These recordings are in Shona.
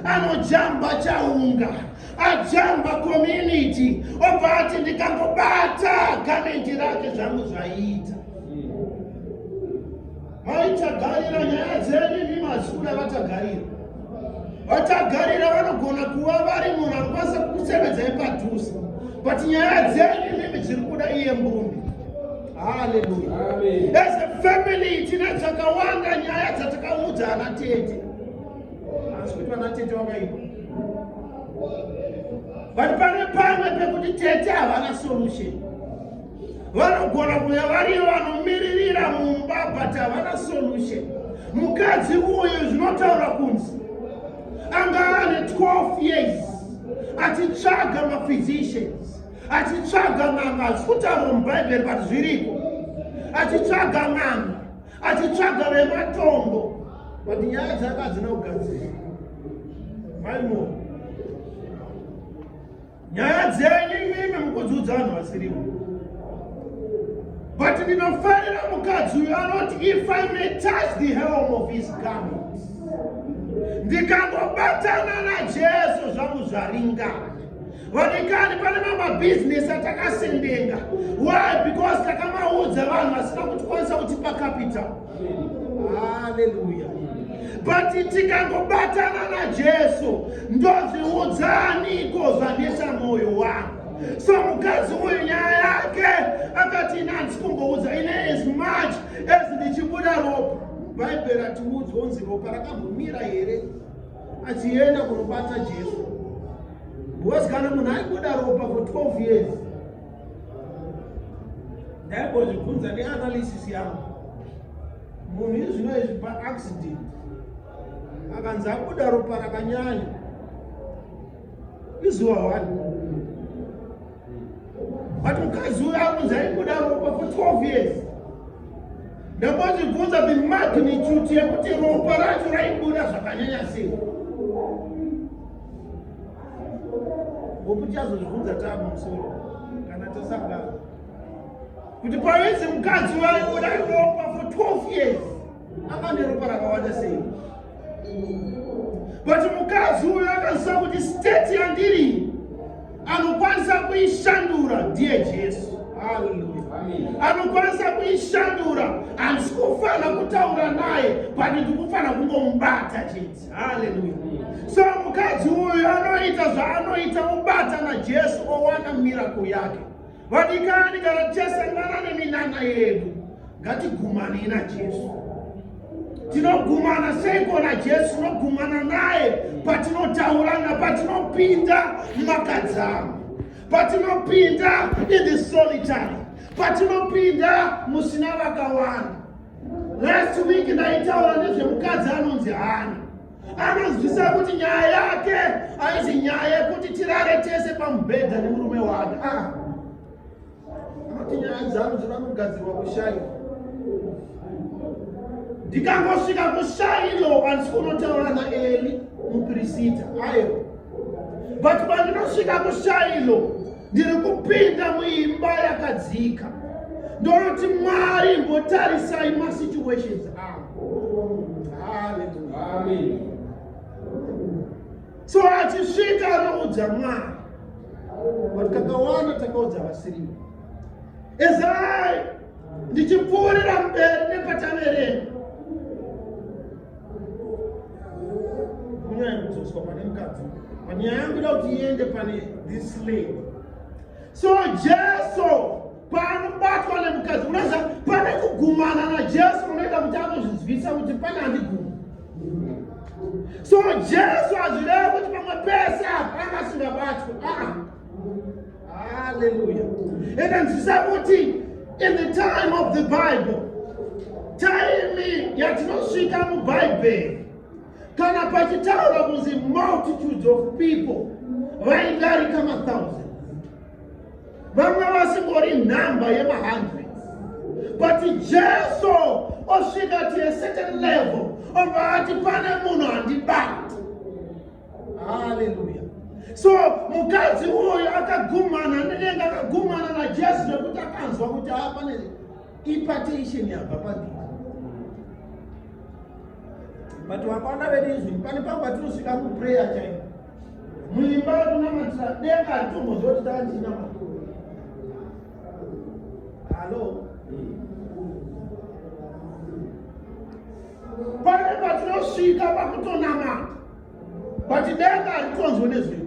anojamba chaunga ajamba community obva ati ndikangobata gamendi rake zvangu zvaiita maitagarira nyaya dzedu imi mazikuru avatagarira vatagarira vanogona kuva vari munhu anokwanisa kukusevedzai padhuze but nyaya dzedu imimi dziri kuda iye mbumbi haleluya as a family tine dzakawanda nyaya dzatakaudza ana tete asi kuti vana tete vakaipa vati pane pamwe pekuti tete havana solution vanogona kuya variyo vanomiririra mumba but havana solution mukadzi uyu zvinotaura kunzi anga ane 12 years achitsvaga maphysicians achitsvaga n'anga hazikutaurwa mubhaibheri but zviriko achitsvaga n'anga achitsvaga vematombo but nyaya dzake hadzina kugadzira maimo nyaya dzenyu imimi mukudzudza vanhu vasirivo but ndinofarira mukadzi uyo anoti if i may touch the helm of his garment ndikangobatana najesu zvangu zvaringana vadikani pane mamabhizinesi atakasendenga why because takamaudza vanhu vasina kutikwanisa kutipa capital haleluya but tikangobatana najesu ndozviudzaniko zvanetsa mwoyo wangu so mukadzi uyu nyaya yake akati ini handisi kumboudza ine as much as ndichibuda ropa bhaibheri atiudzi onzi ropa rakambomira here achienda kunobata jesu because kana munhu aibuda ropa for 12 years ndaibozvibvunza neanalysis yangu munhu izvino izvi paaccident akanzi abuda ropa rakanyanya izuva wani but mukadzi uyo akunzi aibuda ropa for 12 years ndakazvibvunza the magnitude yekuti ropa racho raibuda zvakanyanya sei ngokuti azozvibvunza tava musoro kana tasangana kuti pavenzi mukadzi waibuda ropa for 12 years anga neropa rakawanda sei but mukadzi uyo akaziva kuti state yandiri anokwanisa kuishandura ndiye jesu anokwanisa kuishandura handisi kufanira kutaura naye but ndikufanira kungomubata chete haleluya so mukadzi uyo anoita zvaanoita obata najesu owana mirako yake Vadikani kana tichasangana neminana yedu ngatigumani na Jesu. Tinogumana seiko na Jesu? Tinogumana naye patinotaura na patinopinda makadzama, patinopinda in the solitary, patinopinda musina vakawanda. Last week ndaitaura nezvemukadzi anonzi Hana. anonzwisa kuti nyaya yake aizi nyaya yekuti tirare tese pamubhedha nemurume wake ah. anoti nyaya dzangu dzinoda kugadzirwa kushaini ndikangosvika kushaino andisi kunotaura naeli mupirisita ayo but pandinosvika kushaino ndiri kupinda muimba yakadzika ndonoti mwari mbotarisai masituations aa so achisvika anoudza mwana kuti kakawanda takaudza vasiriwo ezai ndichipfuurira mberi nepataverenga kunyaya kudzoswa pane mukadzi panyaya yangu da kuti iende pane this lady so jesu Panobatwa nemukadzi unoziva pane kugumana naJesu unoita kuti anozvinzwisa kuti pane andiguma. So Jesu hazvireva kuti pamwe pese apa anga asingabatwi. Ah. Hallelujah. Enda nzwisa kuti in the time of the Bible taimi yatinosvika mubhaibheri kana pachitaura kunzi multitudes of people vaidarika mathousand vanga vasingori nhamba yemahundred but jesu osvika to a certain level obva ati pane munhu handibati haleluya so mukadzi uyu akagumana nenenge akagumana najesu nekuti akanzwa kuti haa pane ipatation yabva pandii but vakwana vedu izvi pane pangu patinosvika kuprayer chaipo muimba yekunamatira denga ritombozva kuti taa ndiina makuru halo pane patinosvika pakutonamata but denga ritonzwe nezvedu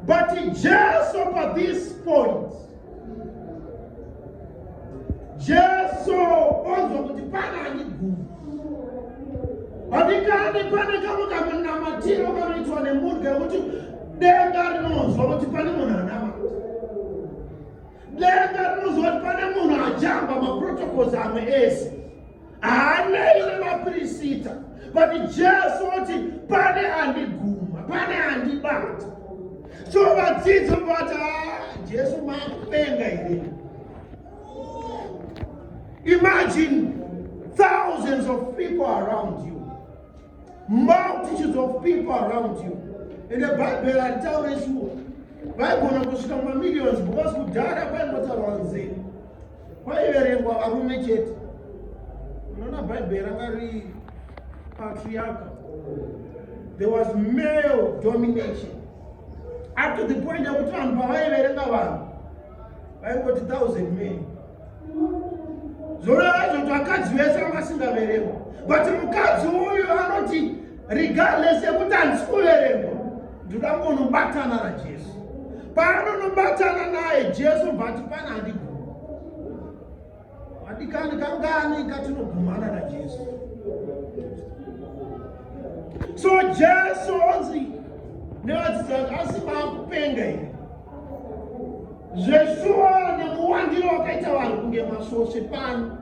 But Jesu pa this point, Jesu onzwa kuti pana aniguru vadikani pane kamwe kamunamatiro kanoitwa nemhuri kekuti denga rinonzwa kuti pane munhu anamata denga rinonzwa kuti pane munhu ajamba maprotocols amwe ese haanei nemapirisita but jesu oti pane andiguma pane andibata so vadzidzi vati ah, jesu makupenga here imagine thousands of people around you multitudes of people around you ende bhaibheri haritaure shuwa vaigona kusvika mumamillions because kudhara kwaingotaurwa nzira kwaiverengwa varume chete unoona bhaibheri ranga ri patriarca there was male domination up to the point yekuti vanhu pavaiverenga vanhu vaingoti thousand men zvoreva zvoti vakadzi vese vanga singaverengwa but mukadzi uyu anoti regardless yekuti handisi kuverengwa ndoda kungonobatana najesu paanonobatana naye jesu bvati pana andiguma adikani kangani katinogumana najesu so jesu onzi nevadzidzi vake asi maakupenga here zveshuwa nekuwandira wakaita vanhu kunge masvosve pano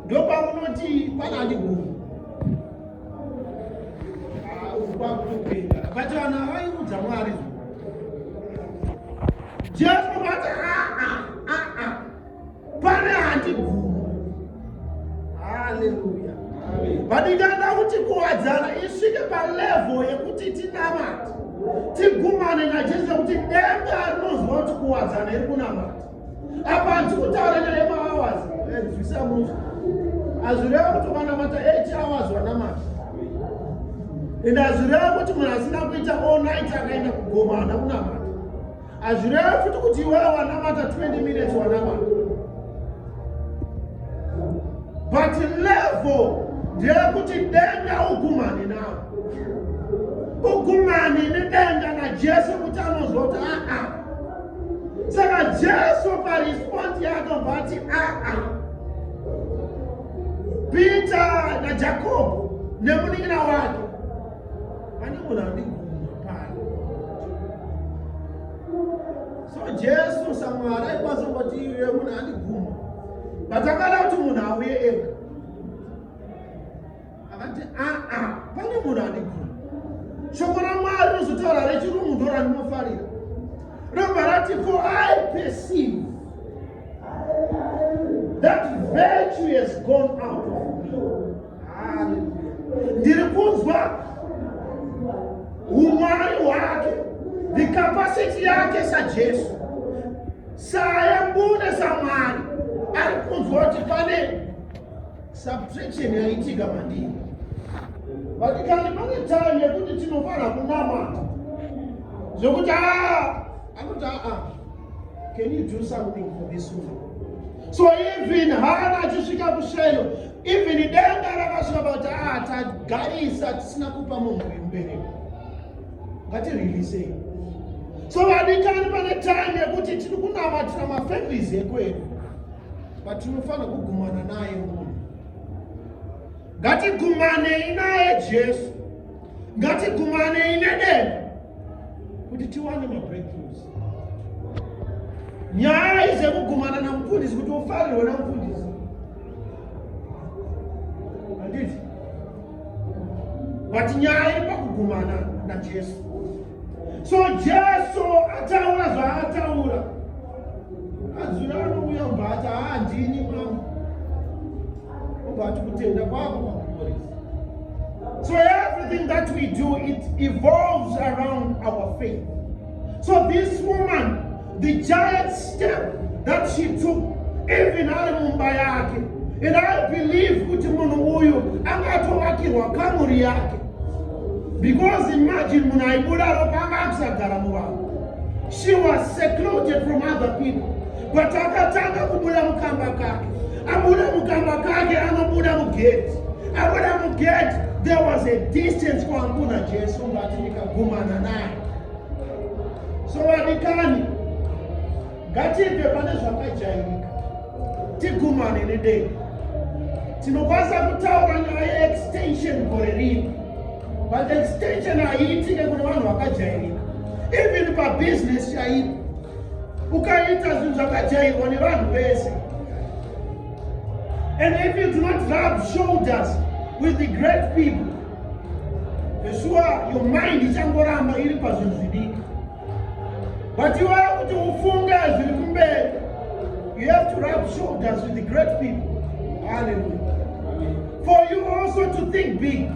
ndopamunoti pana andigoni but vanhu avairudza mwari jesu vati pane handigumi haleluya but ndikada kuti kuwadzana isvike palevo yekuti tinamati tigumane najesu yekuti denga rinozwa kuti kuwadzana iri kunamata apa hanzi kutaura nyaya yemahours nzwisa muzi hazvireva kuti vanamata 8 hours vanamata ende hazvireva kuti munhu asina kuita all night akaenda kugoma hana kunamata hazvireva futi kuti iwe wanamata 20 minutes wanamata but level ndeyekuti denga ugumhani nawo ugumhani nedenga najesu kuti anozoti aa ah, ah. saka jesu parespondi yaakabva ati aa peter najakobho nemunin'ina wake pane munhu andiguma pano so jesu samwari aikwanisa kuti iye munhu andiguma but akada kuti munhu auye ega akati aa pane munhu andigona shoko ramwari rinozotaura rechirungu ndo randinofarira robva rati for i perceive that virtue has gone out of me ndiri kunzwa umwari hwake the capacity yake sajesu sayambune samwari ari kunzwa kuti pane Subtraction yaitika mandii. But kana pane time yekuti tinofara kunamata. Zvokuti ah akuti ah, ah can you do something for this woman? So even hana achisvika kushelo even denga rakasvika pakuti ah tagarisa tisina kupa munhu uyu mubereko. Ngatireleasei. So vadikani pane time yekuti tiri kunamatira mafamilies ekwedu. but tinofanira kugumana naye munhu ngatigumanei naye jesu ngatigumanei nedenda kuti tiwane mabreakthroughs nyaya izekugumana namufundisi kuti ufarirwe namufundisi anditi but nyaya iri pakugumana najesu so jesu ataura zvaataura azvira anouya ubva ati haandini mama ubva ati kutenda kwako kwakuporesa so everything that we do it evolves around our faith so this woman The giant step that she took even ari mumba yake and I believe kuti munhu uyu anga atovakirwa kamuri yake because imagine munhu aibuda ropa anga akusagara muvanhu she was secluded from other people but akatanga kubuda mukamba kake abuda mukamba kake anobuda mugeti abuda mugeti there was a distance kwaanguna jesu ngati ndikagumana naye so vadikani ngatibve pane zvakajairika tigumane nedei tinokwanisa kutaura nyaya yeextension gore rino but extension haiitike kune vanhu vakajairika even pabusiness chaipo ukaita zvinhu zvakajairwa nevanhu vese and if you do not rub shoulders with the great people Yeshua, your mind ichangoramba iri pazvinhu zvidiki. But you have kuti ufunge zviri kumberi. You have to rub shoulders with the great people. Hallelujah. For you also to think big.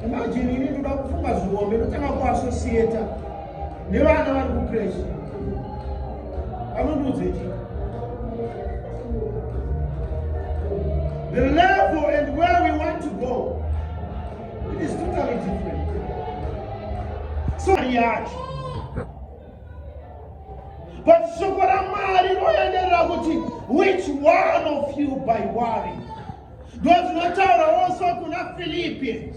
Imagine ini ndoda kufunga zvihombe ndotanga kuassociator nevana vari kukreshi anondiudza ichi the level and where we want to go it is totally different so yacho but shoko ramwari rinoenderera kuti which one of you by worry ndozvinotaurawo so kuna philippians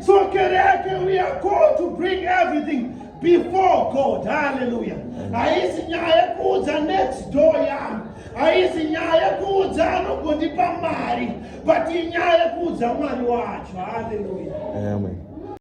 So kereke, we are called to bring everything before God. Hallelujah. Haisi nyaya yekuudza next door yangu. Haisi nyaya yekuudza anogondipa mari. But inyaya yekuudza mwari wacho. Hallelujah. Amen.